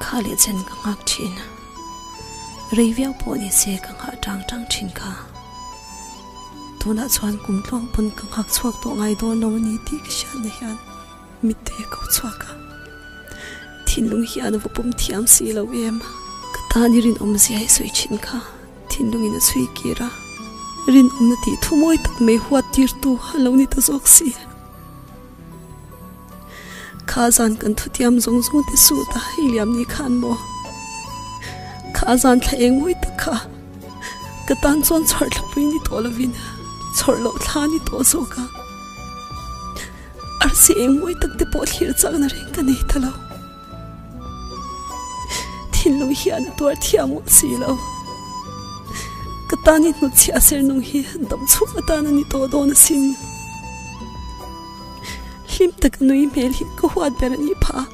Kha leh chen ka nghak thin a, rei viau pawh ni se ka nghah tang tang thin kha. Tunah chuan kum tlawng pawn ka nghak chhuak tawh ngai dawn lo a ni tih ka hriat na hian mitte a ko chhuak a, thinlung hian a va pawm thiam si lo em a. Ka tan i rinawm zia i sawi thin kha, thinlungin a chhui kir a, rinawmna tih thumawi tak mai huattirtu a lo ni ta zawk si. Kha zan kan thutiam zawng zawng te suit a i liam ni khan maw kha zan thla eng mawi tak kha ka tan chuan chhawrh thla pui ni tawh lovin chhawrh loh thla ni tawh zawk a arsi eng mawi tak te pawh thlir chakna reng ka nei ta lo. Thinlung hi an tuar thiah ngawh si lo. Ka tan i hnawt chhiah a ser nung hi an tam chhuak atan a ni tawh dawn a si nia. Hlim tak a nui hmel hi ka huat ber a ni pha a.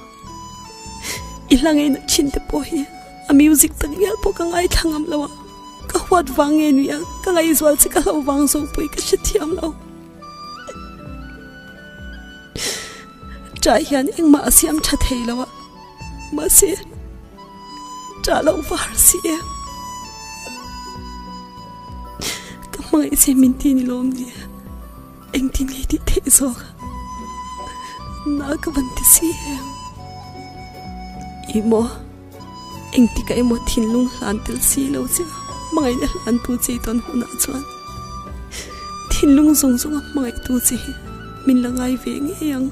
I hla ngei nat thin te pawh hi a music tak hial pawh ka ngai thla ngam lo a. Ka huat vang nge nia ka ngaihzual che ka hlo vang zawk pawh i ka hre thiam lo. Ṭah hian engmah a siam ṭha thei lo a, mahse ṭah loh var a si em? Ka hmangaih che min ti ni lawm nia, engtin nge i tih theih zawk a, na ka van ti si em? I maw? Engtika emaw thinlung hlan tel si lo che a, hmangaihna hlan tu che tawn hunah chuan thinlung zawng zawng a hmangaih tu che hi min la ngai ve ngei ang.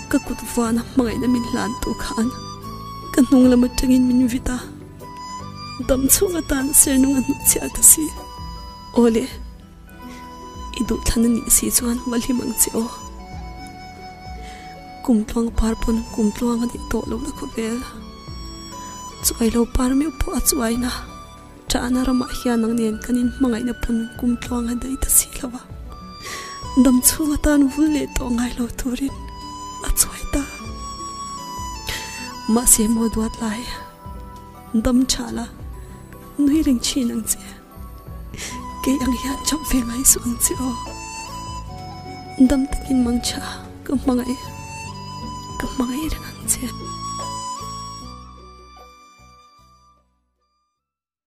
Ka kut vana hmangaihna min hlan tu khan ka hnung lam atangin min vit a, dam chhung atan sernung a hnuk chiah ka si. Awle. I duhthana nih si chuan hma hlim ang che aw. Kum tluang par pawn kum tluang a nih tawh lo la khawvel. Chuai lo par meuh pawh a chuai na. Chahna ramah hian ang nen kan in hmangaihna pawn kum tluang a dai ta si lo a. Dam chhung atan vul leh tawh ngai lo turin a chuai ta. Mahse maw duat lai. Dam chah la nui reng thin ang che. Kei ang hian chawp ve ngai suh ang che aw. Dam takin mang tha a, ka hmangaih a, ka hmangaih reng ang che.